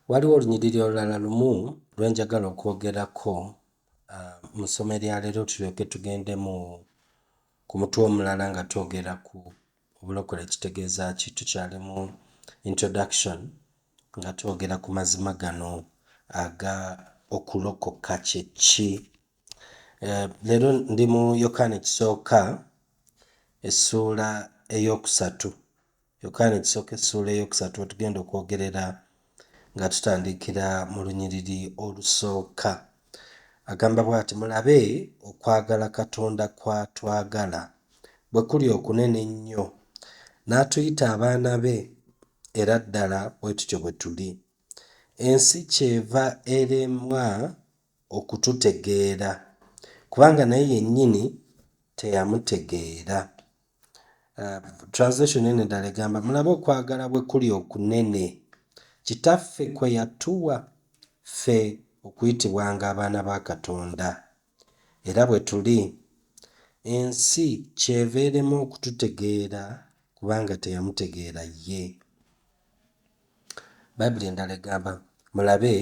Waliwo olunyiriri olulala lumu lwe njagala okwogerako ah, mu ssomo erya leero tulyoke tugende mu ku mutwe omulala nga twogera ku Obulokole kitegeeza ki? Tukyali mu introduction nga twogera ku mazima gano aga okulokoka kye ki. Eh, leero ndi mu Yokaana ekisooka essuula ey'okusatu. Yokaana ekisooka essuula ey'okusatu wetugenda okwogerera nga tutandikira mu lunyiriri olusooka. Agamba bw'ati, Mulabe okwagala Katonda kw'atwagala bwe kuli okunene ennyo, n'atuyita abaana be, era ddala bwe tutyo bwe tuli. Ensi ky'eva eremwa okututegeera kubanga naye yennyini teyamutegeera. Translation eno endala egamba mulabe okwagala bwe kuli okunene Kitaffe kwe yatuwa ffe okuyitibwanga abaana ba Katonda, era bwe tuli, ensi ky'eva erema okututegeera kubanga teyamutegeera ye. Bayibuli endala egamba, Mulabe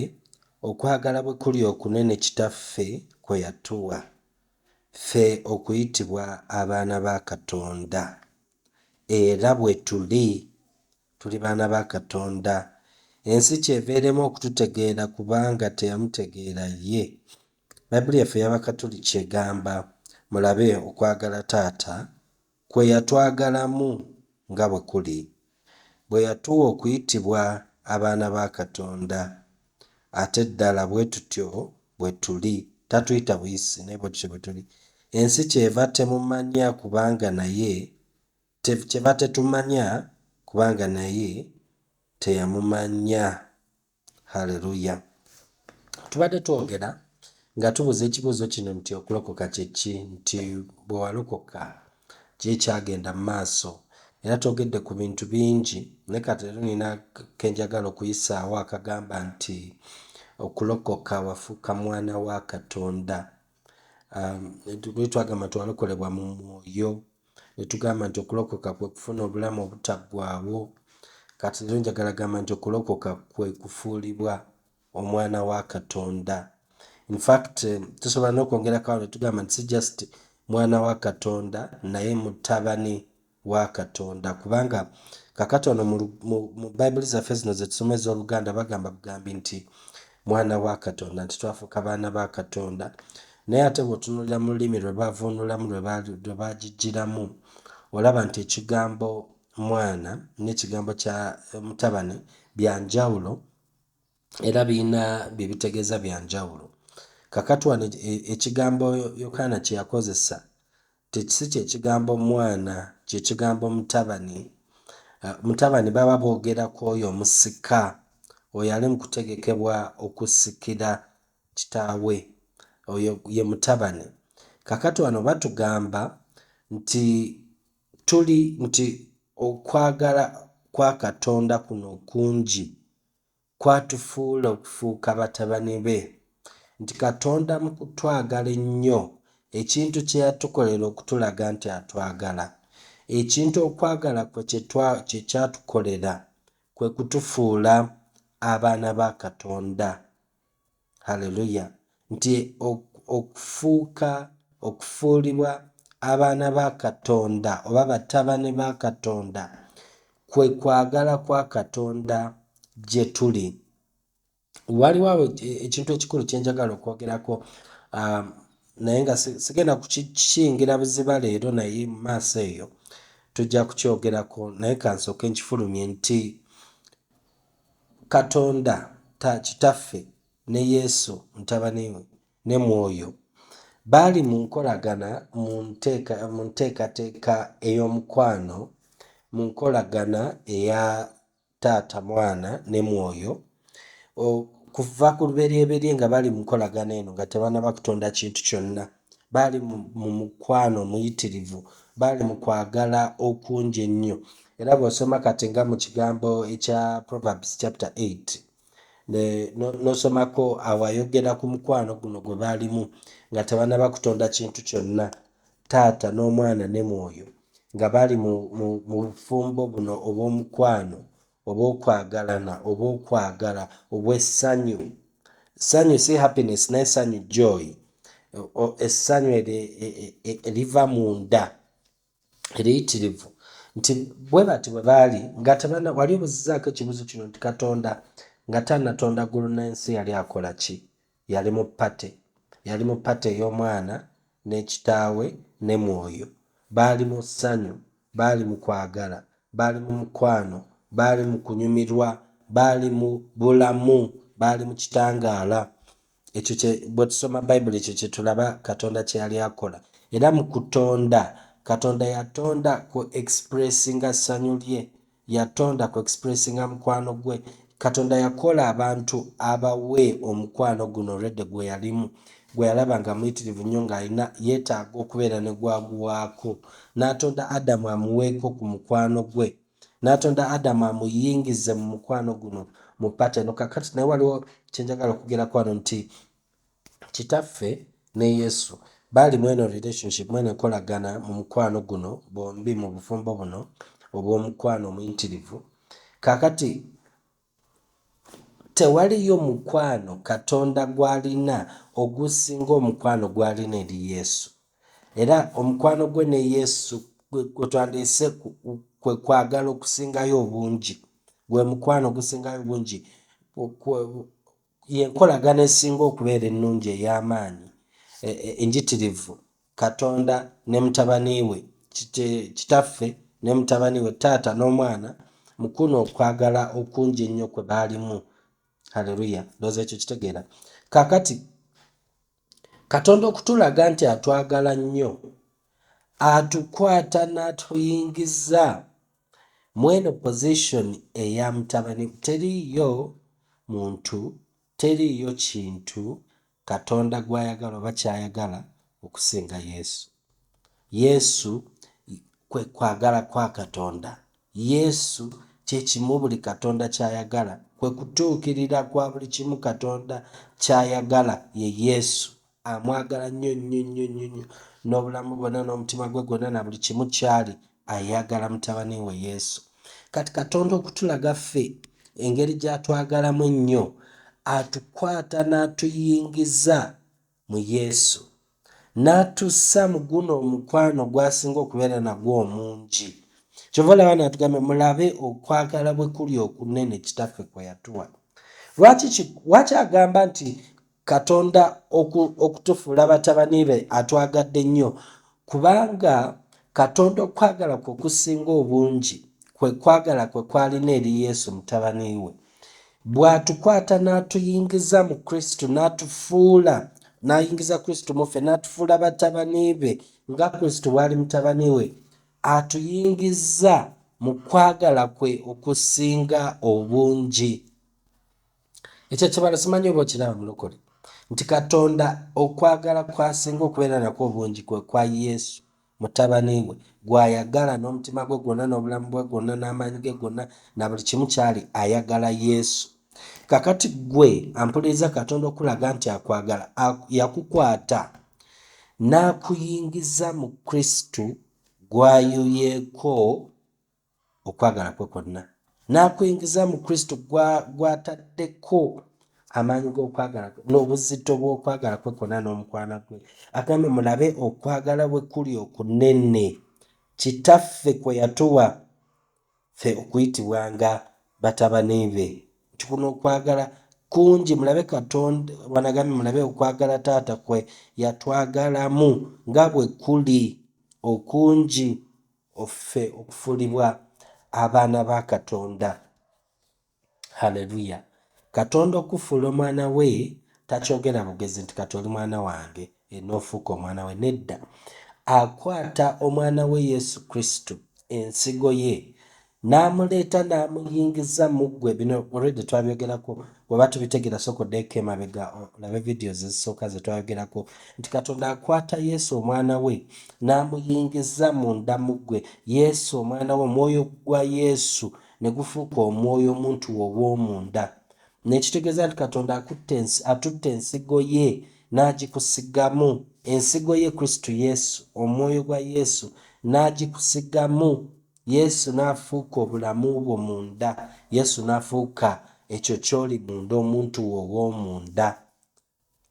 okwagala bwe kuli okunene Kitaffe kwe yatuwa, ffe okuyitibwa abaana ba Katonda. Era bwe tuli. Tuli baana ba Katonda. Ensi ky'eva erema okututegeera kubanga teyamutegeera Ye. Bayibuli yaffe ey'Abakatuliki egamba, Mulabe okwagala Taata Kwe yatwagalamu nga bwe kuli, bwe yatuwa okuyitibwa abaana ba Katonda. Ate ddala bwe tutyo bwe tuli. Tatuyita buyisi, naye bwe tutyo bwe tuli. Ensi kyeva temumanya kubanga naye te, kyeva tetumanya kubanga naye teyamumanya. Hallelujah tubadde twogera nga tubuza ekibuuzo kino nti okulokoka kyeki nti bwewalokoka ki ekyagenda mu maaso era twogedde ku bintu bingi naye kati leero nina kenjagala okuyisaawo akagamba nti okulokoka wafuuka mwana wa katonda um, twagamba nti walokolebwa mu mwoyo ne tugamba nti okulokoka kwe kufuna obulamu obutaggwaawo. Kati leero njagala gamba nti okulokoka kwe kufuulibwa omwana wa Katonda. In fact, tusobola n'okwongerako awo ne tugamba nti si just mwana wa Katonda naye mutabani wa Katonda kubanga kakati ono mu, mu, mu Bayibuli zaffe zino ze tusoma ez'Oluganda bagamba bugambi nti mwana wa Katonda, nti twafuuka baana ba Katonda. Naye ate bw'otunuulira mu lulimi lwe baavuunulamu, lwe baagijjiramu, olaba nti ekigambo mwana n'ekigambo kya mutabani bya njawulo era birina bye bitegeeza bya njawulo. Kakati wano e, ekigambo Yokaana kye yakozesa Tekisi kye kigambo mwana, kye kigambo mutabani. Mutabani baba boogera ku oyo omusika, oyo ali mu kutegekebwa okusikira kitaawe. Oyo ye mutabani. Kaakati wano batugamba nti tuli, nti okwagala kwa Katonda kuno kungi, kw'atufuula okufuuka batabani be, nti Katonda mu kutwagala ennyo, ekintu kye yatukolera okutulaga nti atwagala, ekintu okwagala kwe kye twa, kye kyatukolera, kwe kutufuula abaana ba Katonda. Hallelujah, nti okufuuka, okufuulibwa abaana ba Katonda oba batabani ba Katonda kwe kwagala kwa Katonda gye tuli. Waliwo awo ekintu ekikulu kye njagala okwogerako, um, naye nga sigenda kukiyingira buziba leero, naye mu maaso eyo tujja kukyogerako, naye kansooke nkifulumye nti Katonda ta Kitaffe ne Yesu Mutabani we ne Mwoyo baali mu nkolagana mu nteeka mu nteekateeka ey'omukwano, mu nkolagana eya Taata, Mwana, ne Mwoyo okuva ku luberyeberye nga bali mu nkolagana eno nga tebanaba kutonda kintu kyonna. baali mu mukwano omuyitirivu baali mu kwagala okungi ennyo era bw'osoma kati nga mu kigambo ekya proverbs chapter 8 n'osomako awayogera ku mukwano guno gwe baalimu nga tebanaba kutonda kintu kyonna taata n'omwana ne mwoyo nga baali mu bufumbo buno obw'omukwano obw'okwagalana, obw'okwagala, obw'essanyu. Ssanyu si happiness naye ssanyu joy, essanyu e, e, e, eriva mu nda eriyitirivu nti bwe bati bwe baali nga tebana wali obuzizaako ekibuzo kino nti katonda nga tanatonda ggulu n'ensi yali akola ki Yali mu party. Yali mu party ey'omwana ne kitaawe ne mwoyo. Baali mu ssanyu. Baali mu kwagala. Baali mu mukwano. Baali mu kunyumirwa. Baali mu bulamu. Baali mu kitangaala. Ekyo kye, bwe tusoma Bayibuli, ekyo kye tulaba Katonda kye yali akola. Era mu kutonda, Katonda yatonda ku expressinga ssanyu lye Yatonda ku expressinga mukwano gwe. Katonda yakola abantu abawe omukwano guno Redde gweyalimu, gweyalaba nga muyitirivu nnyo ng'alina yetaaga okubeera ne gw'aguwaako. N'atonda Adamu amuweeko ku mukwano gwe. N'atonda Adamu amuyingize mu mukwano guno mu pattern. Kaakati naye waliwo kye njagala okugerako wano nti Kitaffe ne Yesu baali mweno relationship, mweno enkolagana mu mukwano guno, bombi mu bufumbo buno obw'omukwano omuyitirivu. Kaakati, tewaliyo mukwano Katonda gw'alina ogusinga omukwano gw'alina eri Yesu. Era omukwano gwe ne Yesu gwe, gwe twandiyise kwe kwagala okusingayo obungi. Gwe mukwano ogusingayo obungi. Y'enkolagana esinga okubeera ennungi ey'amaanyi, enjitirivu, Katonda ne Mutabani we, Kitaffe ne Mutabani we, Taata n'Omwana, mu kuno okwagala okungi ennyo kwe baalimu. Haleruya! Ndowooza ekyo kitegeera. Kaakati, Katonda okutulaga nti atwagala nnyo, Atukwata n'Atuyingiza. Mweno position eya mutabani teriiyo muntu teriiyo kintu katonda gwayagala oba kyayagala okusinga yesu. Yesu kwe kwagala kwa katonda. Yesu kyekimu buli katonda kyayagala kwe kutuukirira kwa buli kimu katonda kyayagala ye yesu. Amwagala nnyo nnyo nnyo nnyo nnyo n'obulamu bwonna n'omutima gwe gwonna na buli kimu ky'ali, ayagala Mutabani we Yesu. Kati Katonda okutulaga ffe engeri gy'atwagalamu ennyo, atukwata n'atuyingiza mu Yesu, n'atussa mu guno omukwano gw'asinga okubeera nagwo omungi. Kyova olaba n'atugambye, mulabe okwagala bwe kuli okunene Kitaffe kwe yatuwa. Lwaki ki, lwaki agamba nti Katonda oku, okutufuula batabani be atwagadde nnyo, kubanga Katonda okwagala kwe okusinga obungi kwe kwagala kwe kwalina eri Yesu mutabani we. Bw'atukwata n'atuyingiza mu Kristo, n'atufuula n'ayingiza Kristo mu ffe, n'atufuula batabani be nga Kristo bw'ali mutabani we, atuyingizza mu kwagala kwe okusinga obungi. Ekyo ekibalo simanyi oba okiraba mulokole nti Katonda okwagala kwasinga okubeera nakwo obungi kwe kwa Yesu mutabani we gw'ayagala n'omutima gwe gwonna n'obulamu bwe gwonna n'amaanyi ge gonna na buli kimu kyali ayagala Yesu. Kakati gwe ampuliriza Katonda okulaga nti akwagala yakukwata n'akuyingiza mu Kristo gw'ayuyeeko okwagala kwe kwonna, n'akuyingiza mu Kristo gw'ataddeko amaanyi g'okwagala kwe n'obuzito bw'okwagala kwe kwonna n'omukwana gwe. Agambye mulabe okwagala bwe kuli okunene Kitaffe kwe yatuwa ffe okuyitibwanga batabani be, nti kuno okwagala kungi mulabe Katonda wanagambye mulabe okwagala taata kwe yatwagalamu nga bwe kuli okungi. Ffe okufuulibwa abaana ba Katonda. Haleluya! Katonda okukufuula omwana We takyogera bugezi nti, Kati oli mwana wange, e, n'ofuuka omwana we. Nedda. Akwata Omwana we Yesu Kristo, Ensigo ye, Namuleeta namuyingiza muggwe bino already twabyogerako weba tubitegera soka odeeko emabega olabe videos ezisooka zetwayogerako nti katonda akwata yesu omwana we namuyingiza munda muggwe yesu omwana we omwoyo gwa yesu negufuuka omwoyo omuntu wowomunda nekitegeeza nti katonda atutte ensigo ye nagikusigamu ensigo ye kristu yesu omwoyo gwa yesu nagikusigamu Yesu n'afuuka obulamu bwo munda. Yesu n'afuuka ekyo ky'oli munda, omuntu wo ow'omunda.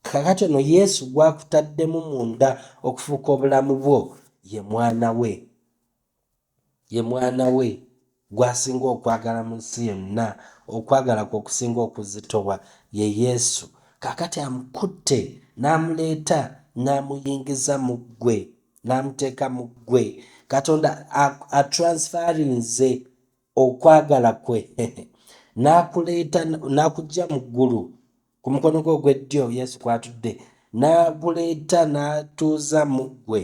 Kakati ono Yesu gw'akutaddemu munda okufuuka obulamu bwo ye mwana we. Ye mwana we gw'asinga okwagala mu nsi yonna. Okwagala kwe okusinga okuzitowa ye Yesu. Kakati amukutte n'amuleeta n'amuyingiza mu ggwe. n'amuteeka mu ggwe katonda atransferinze okwagala kwe n'akuleeta n'akujja mu ggulu ku mukono gwe ogweddyo yesu kwatudde n'aguleeta n'atuuza mu ggwe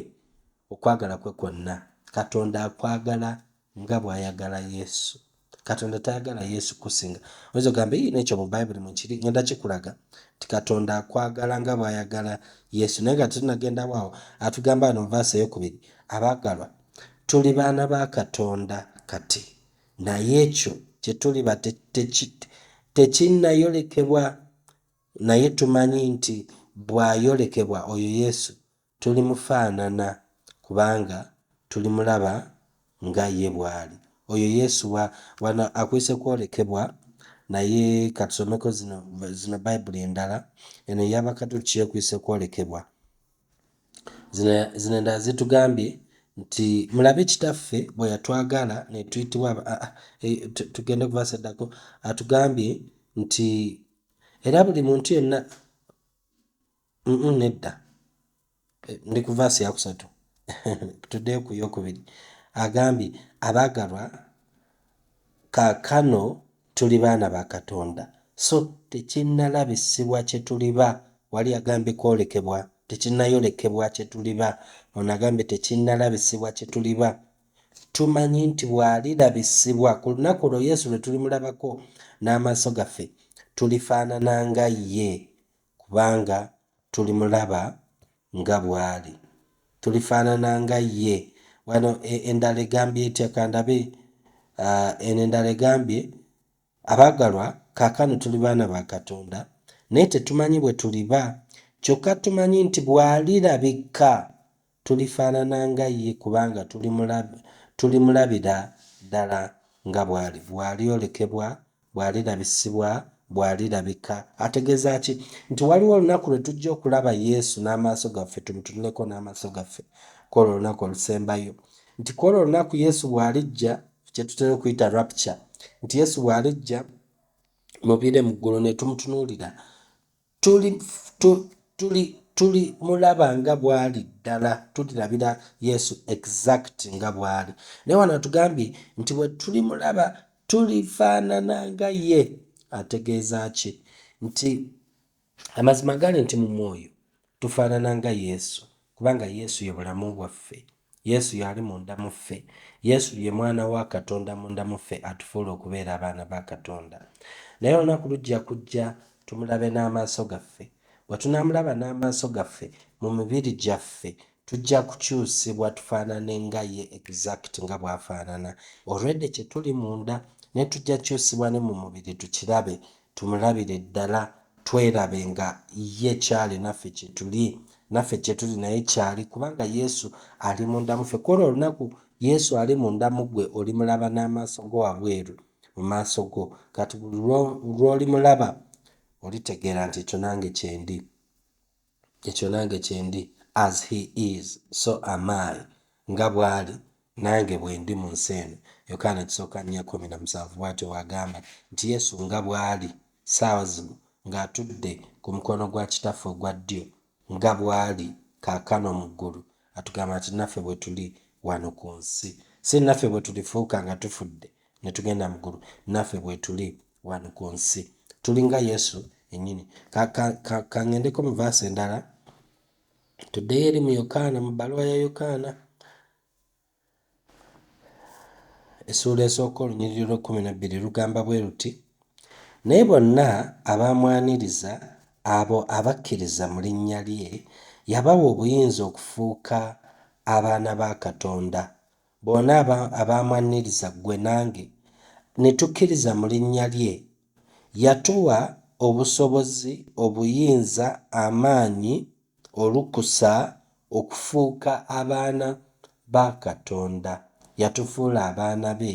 okwagala kwe kwonna katonda akwagala nga bw'ayagala Yesu. Katonda tayagala Yesu kusinga. Oyinza ogamba, ii, n'ekyo mu Bayibuli mwe kiri, ngenda kikulaga nti Katonda akwagala nga bw'ayagala Yesu. Naye nga tetunagendawo awo, atugamba wano mu vaasi ey'okubiri, abaagalwa, tuli baana ba Katonda kati, naye ekyo kye tuliba tekinnayolekebwa, naye tumanyi nti bw'ayolekebwa, oyo Yesu, Tulimufaanana kubanga tulimulaba nga ye bw'ali. Oyo Yesu wa? Wano akuyise kwolekebwa, naye ka tusomeko zino, zino Bayibuli endala. Eno eya Bakatuliki ekuyise kwolekebwa. Zino, zino endala zitugambye nti mulabe kitaffe bwe yatwagala ne tuyitibwa aba, a, a, e, tu- tugende ku verse eddako atugambye nti era buli muntu yenna Mm, mm, nedda Eh, ndi ku vaasi yakusatu tuddeyo ku yokubiri agambye abaagalwa kaakano tuli baana ba katonda so tekinnalabisibwa kye tuliba wali agambye kwolekebwa tekinnayolekebwa kye tuliba ono agambye tekinnalabisibwa kye tuliba tumanyi nti bw'alirabisibwa ku lunaku olwo yesu lwe tulimulabako n'amaaso gaffe tulifaanana nga ye kubanga tulimulaba nga bw'ali. Tulifaanana nga Ye. Wano e, endala egambye etya? Ka ndabe. A, eno endala egambye, Abaagalwa, kaakano tuli baana ba Katonda, naye tetumanyi bwe tuliba. Kyokka tumanyi nti bw'Alirabika, Tulifaanana nga ye, kubanga tulimulabira ddala nga bw'ali. Bw'alyolekebwa, bw'alirabisibwa, bw'alirabika. Ategeeza ki? Nti waliwo olunaku lwe tujja okulaba Yesu n'amaaso gaffe, tumutunuleko n'amaaso gaffe, ku olwo olunaku olusembayo. Nti ku olwo olunaku Yesu bw'alijja, kye tutera okuyita rapture, nti Yesu bw'alijja mu bire mu ggulu ne tumutunuulira. Tuli, tu, tuli, tuli mulaba nga bwali ddala, tulirabira Yesu exact nga bwali. Naye wano atugambye nti bwe tuli mulaba tulifaanana nga ye. Ategeeza ki? Nti amazima gali nti mu mwoyo tufaanana nga Yesu, Kubanga Yesu ye bulamu bwaffe. Yesu y'ali munda mu ffe. Yesu ye Mwana wa Katonda munda mu ffe atufuula okubeera abaana ba Katonda. Naye olunaku lujja kujja tumulabe n'amaaso gaffe. Bwe tunaamulaba n'amaaso gaffe, mu mibiri gyaffe, tujja kukyusibwa tufaanane nga ye exact nga bw'afaanana. Already kye tuli munda, naye tujja kyusibwa ne mu mubiri tukirabe. tumulabire ddala twerabe nga ye kyali naffe kyetuli naffe kyetuli naye kyali kubanga Yesu ali munda muffe kwolwo olunaku Yesu ali munda mugwe olimulaba n'amaaso go wabweru mu maaso go kati buli lwolimulaba olitegeera nti ekyo nange kyendi. Ekyo nange kyendi as he is so am I nga bwali nange bwendi mu nsi eno Yokaana ekisooka nnya kkumi na musanvu bwatyo bwagamba nti Yesu nga bwali ssaawa zino nga atudde ku mukono gwa kitaffe ogwa ddyo nga bwali kaakano mu ggulu atugamba nti naffe bwetuli wano ku nsi si naffe bwetulifuuka nga tufudde ne tugenda mu ggulu naffe bwetuli wano ku nsi tulinga yesu enyini kangendeko mu vaasi endala tuddeyo eri mu yokaana mu bbaluwa ya yokaana essuula esooka olunyiriri lw'ekkumi nabbiri lugamba bwe luti naye bonna abamwaniriza abo abakkiriza mu linnya lye yabawa obuyinza okufuuka abaana ba katonda Bona abo abaamwanniriza, ggwe nange, ne tukkiriza mu linnya lye, yatuwa obusobozi, obuyinza, amaanyi, olukusa, okufuuka abaana ba Katonda, yatufuula abaana be,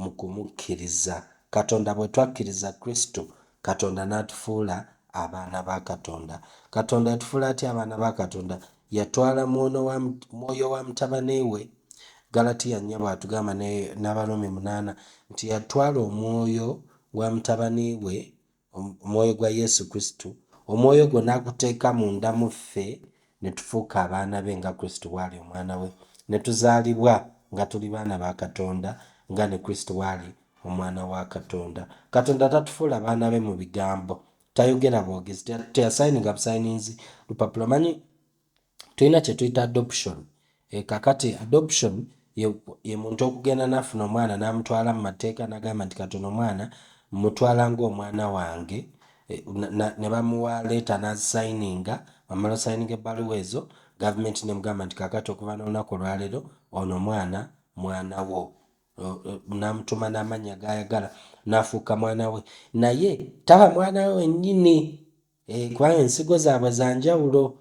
mu kumukkiriza. Katonda bwe twakkiriza Kristo, Katonda n'atufuula abaana ba Katonda. Katonda yatufuula atya abaana ba Katonda? Yatwala mwono wa, Mwoyo wa Mutabani We. Ggalatiya nnya bw'atugamba ne, n'Abarumi munaana, nti yatwala Omwoyo wa Mutabani We Omwoyo gwa Yesu Kristo, Omwoyo ogwo n'aguteeka munda mu ffe, ne tufuuka abaana Be nga Kristo bw'ali Omwana We, ne tuzaalibwa nga tuli baana ba Katonda, nga ne Kristo bw'ali Omwana wa Katonda. Katonda tatufuula baana Be mu bigambo. Tayogera bwogezi. Te, teyasayininga busayininzi lupapula. Omanyi? tulina kyetuyita adoption e, kakati adoption ye, ye muntu okugenda nafuna omwana namutwala mu mateeka nagamba nti kati ono mwana mutwala ng'omwana wange e, ne bamuwa leeta nazisayininga wamala osayininga ebbaluwa ezo gavumenti nemugamba nti kakati okuva n'olunaku olwaleero ono mwana mwana wo namutuma n'amannya gayagala nafuuka mwana we naye taba mwana we wenyini Eh, kubanga ensigo zaabwe za njawulo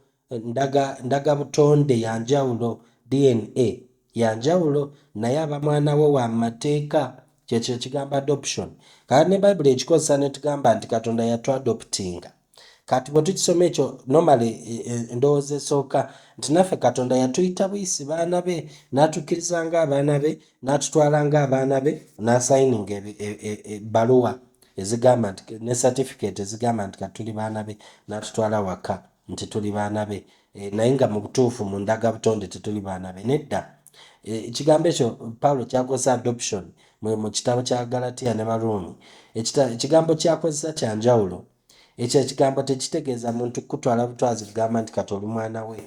ndaga ndaga butonde ya njawulo dna ya njawulo naye aba mwana wo wa mu mateeka kyekyo ekigambo adoption kati ne bayibuli ekikozesa netugamba nti katonda yatwadoptinga kati bwe tukisoma ekyo nomale e, e, endowooza esooka nti naffe katonda yatuyita buyisi baana be n'atukkiriza ng'abaana be n'atutwala ng'abaana be n'asayininga ebbaluwa e, ezigamba nti ne certificate ezigamba nti kati tuli baana be natutwala waka nti tuli baana be e, naye nga mu butuufu mu ndaga butonde tetuli baana be nedda e, ekigambo ekyo paulo kyakozesa adoption mu kitabo kya galatiya ne baruumi ekigambo kyakozesa kya njawulo ekyo ekigambo tekitegeeza muntu kukutwala butwazi kugamba nti kati oli mwana we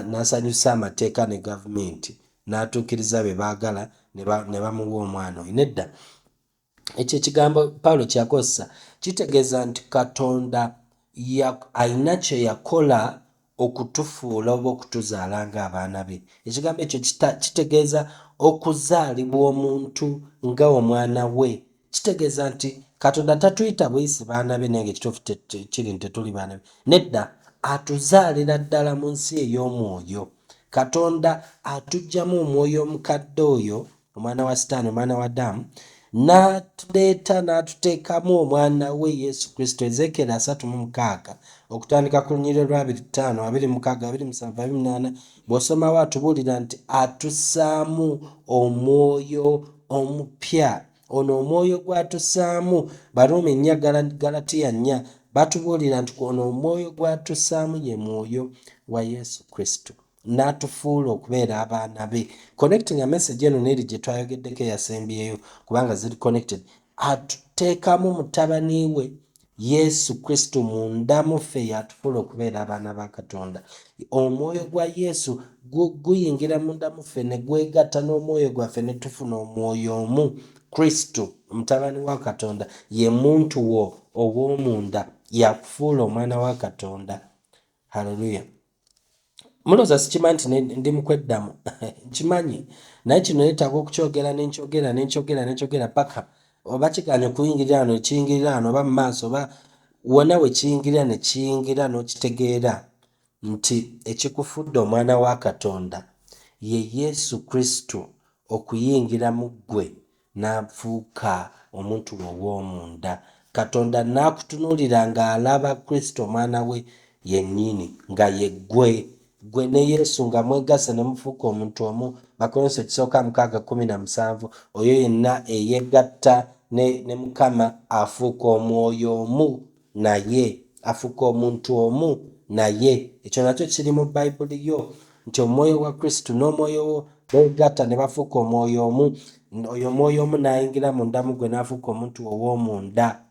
n'asanyusa amateeka ne gavumenti n'atuukiriza bye baagala ne bamuwa omwana oyo nedda ekyo ekigambo pawulo kyakozesa kitegeeza nti katonda alina kye yakola okutufuula oba okutuzaala ng'abaana be ekigambo ekyo kitegeeza okuzaalibwa omuntu nga omwana we kitegeeza nti katonda tatuyita buyisi baana be naye ngaekituufu kiri nti tetuli baana be nedda atuzaalira ddala mu nsi ey'omwoyo katonda atugyamu omwoyo omukadde oyo omwana wa sitaani omwana wa daamu n'atuleeta n'atuteekamu omwana we yesu kristo ezeekeera asatu mu mukaaga okutandika ku lunyiriro lwa abiri ttaano abiri mukaaga abiri musanvu abiri munaana bw'osomawo atubuulira nti atusaamu omwoyo omupya ono omwoyo gwatusaamu baruumi nnya galatiya nnya batubuulira nti ono omwoyo gwatusaamu ye mwoyo wa yesu kristo n'atufuula okubeera abaana be connecting a message eno neeri gye twayogeddeko eyasembyeyo kubanga ziri connected atuteekamu mutabani we yesu kristo munda muffe yatufuula okubeera abaana ba katonda omwoyo gwa yesu guyingira munda muffe ne gwegatta n'omwoyo gwaffe ne tufuna omwoyo omu kristo mutabani wa katonda ye muntu wo ow'omunda yakufuula omwana wa katonda haleluya Mulowooza sikimanyi nti ne- ndi mu kweddamu nkimanyi naye kino neetaaga okukyogera ne nkyogera ne nkyogera ne nkyogera paka oba kigaanye okuyingirira wano ne kiyingirira wano oba mu maaso oba wonna we kiyingirira ne kiyingira n'okitegeera nti ekikufudde omwana wa katonda ye yesu kristo okuyingira mu ggwe n'afuuka omuntu we ow'omunda. Katonda n'akutunuulira ng'alaba Kristo Omwana we yennyini, nga ye ggwe. Ggwe ne Yesu nga mwegasse ne mufuuka omuntu omu, Bakorinso ekisooka mukaaga kkumi na musanvu, oyo yenna eyegatta ne, ne Mukama afuuka Omwoyo omu Naye, afuka omuntu omu naye. Ekyo nakyo kiri mu Bayibuli yo, nti Omwoyo gwa Kristo n'Omwoyo wo beegatta ne bafuuka Omwoyo omu, oyo Omwoyo omu n'ayingira munda mu ggwe n'afuuka omuntu wo ow'omunda.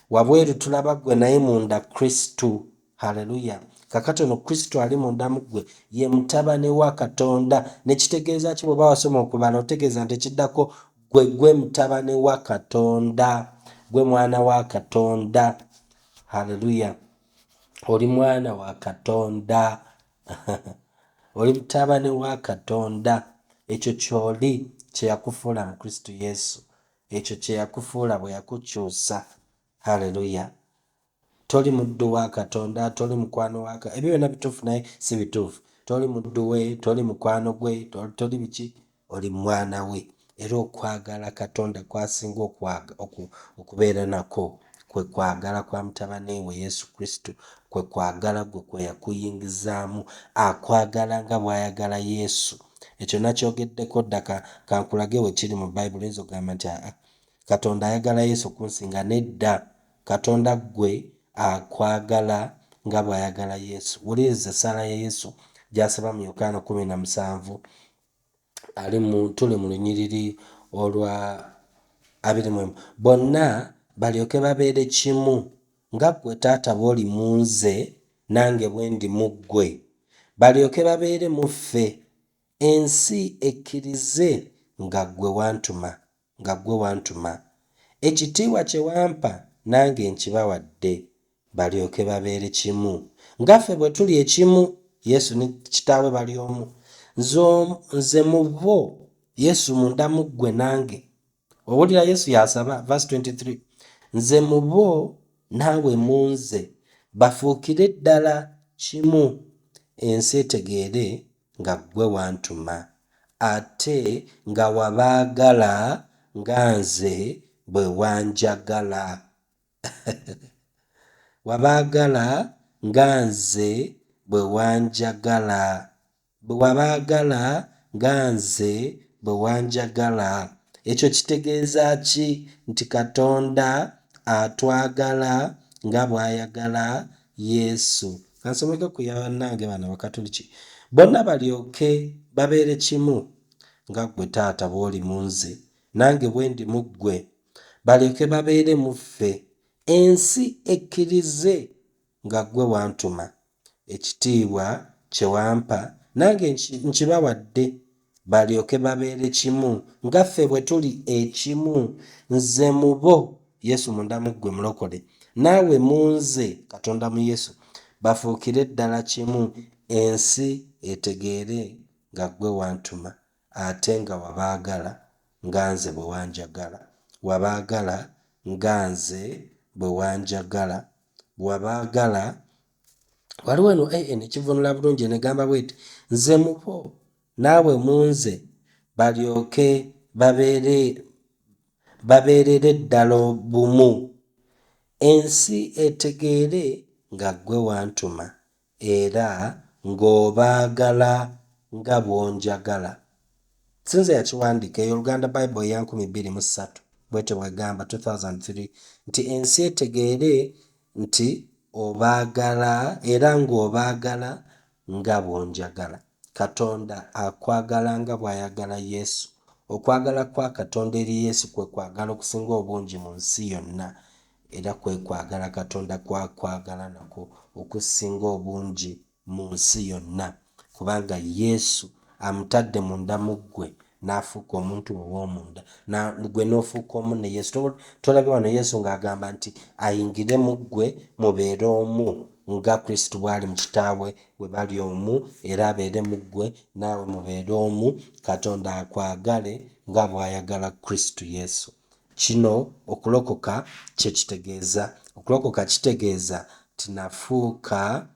Wabweru tulaba ggwe, naye munda Kristo. Haleluya! Kaakati ono Kristo ali munda mu ggwe, ye Mutabani wa Katonda. Ne kitegeeza ki? Bw'oba wasoma okubala, otegeeza nti ekiddako, Gwe gwe mutabane wa Katonda. Gwe mwana wa Katonda. Haleluya. Oli mwana wa Katonda. Oli mutabane wa Katonda. Ekyo kyoli kyeyakufuula mu Kristo Yesu. Ekyo kyeyakufuula bwe yakukyusa. Haleluya. Toli muddu wa Katonda, toli mukwano wa Ka, ebyo byonna bituufu naye si bituufu. Toli muddu we, toli mukwano gwe, toli, toli biki, oli mwana we. Era okwagala Katonda kw'asinga okwaga, oku, okubeera nakwo, kwe kwagala kwa Mutabani We, Yesu Kristo. Kwe kwagala gwe kwe yakuyingizaamu. Akwagala nga bw'ayagala Yesu. Ekyo nnakyogeddeko dda. Ka, ka nkulage we kiri mu Bayibuli. Oyinza okugamba nti, A, a, Katonda ayagala Yesu kunsinga. Nedda. Katonda ggwe akwagala nga bw'ayagala Yesu. Wuliriza essaala ya Yesu gy'asaba mu Yokaana kumi na musanvu ali mu tuli mu lunyiriri olwa abiri mu emu bonna balyoke babeere kimu nga ggwe taata bw'oli mu nze nange bwe ndi mu ggwe balyoke babeere mu ffe ensi ekkirize nga ggwe wantuma nga ggwe wantuma, ekitiibwa kye wampa nange nkibawadde, balyoke babeere kimu, nga ffe bwe tuli ekimu, Yesu ne Kitaawe bali omu, Nze, Nze mu bo, Yesu munda mu ggwe nange. Owulira Yesu y'asaba, verse 23, Nze mu bo, naawe mu nze, bafuukire ddala kimu, ensi etegeere nga gwe wantuma ate nga wabaagala nga nze bwe wanjagala wabaagala nga nze bwe wanjagala bwe wabaagala nga nze bwe wanjagala ekyo kitegeeza ki nti Katonda atwagala nga bw'ayagala Yesu. Kansomeke ku ya bannange bano Abakatuliki. Bonna balyoke babeere kimu, nga ggwe Taata bw'oli mu nze, nange bwe ndi mu ggwe, balyoke babeere mu ffe, ensi ekkirize nga ggwe wantuma. Ekitiibwa kye wampa nange nkibawadde, Balyoke babeere kimu, nga ffe bwe tuli ekimu, Nze mu bo, Yesu munda mu ggwe, Mulokole, naawe mu Nze, Katonda mu Yesu, bafuukire ddala kimu, ensi etegeere nga Ggwe wantuma, ate nga wabaagala nga Nze bwe wanjagala, wabaagala nga Nze bwe wanjagala, wabaagala waliwo eno an ekivunula bulungi enegamba bweti nze mubo naawe munze balyoke babeerere ddala bumu ensi etegeere nga ggwe wantuma era ng'obaagala nga bw'onjagala sinze yakiwandiika eyo oluganda bible eya 213 bwete bwegamba 2003 nti ensi etegeere nti obaagala era ng'obaagala nga bw'onjagala. Katonda akwagala nga bw'ayagala Yesu. Okwagala kwa Katonda eri Yesu kwe kwagala okusinga obungi mu nsi yonna, era kwe kwagala Katonda kw'akwagala nakwo okusinga obungi. mu nsi yonna, kubanga Yesu amutadde munda mu ggwe, n'afuuka omuntu we ow'omunda, na, ggwe n'ofuuka omu ne Yesu. To, tolabye wano Yesu nga agamba nti, Ayingire mu ggwe, mubeere omu, nga Kristo bw'ali mu Kitaawe, bwe bali omu, era abeere mu ggwe, naawe mubeere omu, Katonda akwagale nga bw'ayagala Kristo Yesu. Kino okulokoka kye kitegeeza. Okulokoka kitegeeza nti nafuuka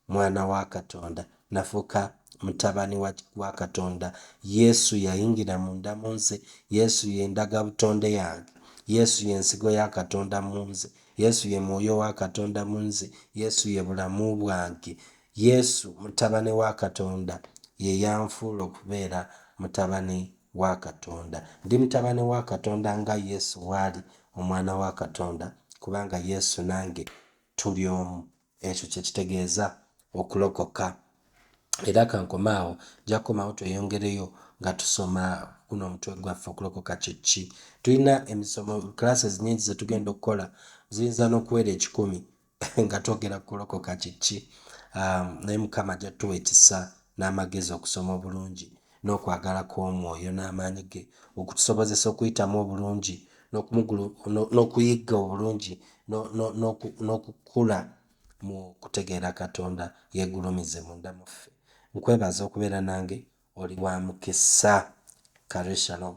Mwana wa Katonda, nafuuka mutabani wa, wa Katonda. Yesu yayingira munda mu nze. Yesu ye ndagabutonde yange. Yesu ye Nsigo ya Katonda mu nze. Yesu ye Mwoyo wa Katonda mu nze. Yesu ye Bulamu bwange. Yesu, Mutabani wa Katonda, ye yanfuula okubeera mutabani wa Katonda. Ndi mutabani wa Katonda nga Yesu bw'ali Omwana wa Katonda, kubanga Yesu nange tuli omu. Ekyo kye kitegeeza okulokoka. Era ka nkome awo. Nja kukomawo tweyongereyo nga tusoma guno omutwe gwaffe, Okulokoka Kye Ki? Tulina emisomo, classes, nnyingi ze tugenda okukola. Ziyinza n'okuwera ekikumi nga twogera ku kulokoka kye ki. Um, naye Mukama ajja tuwa ekisa n'amagezi okusoma obulungi. n'okwagala kw'Omwoyo n'amaanyi ge okutusobozesa okuyitamu obulungi n'okuyigga obulungi n'okukula mu kutegeera Katonda yegulumize munda muffe. Nkwebaza okubeera nange oli wa mukisa. Kare shalom.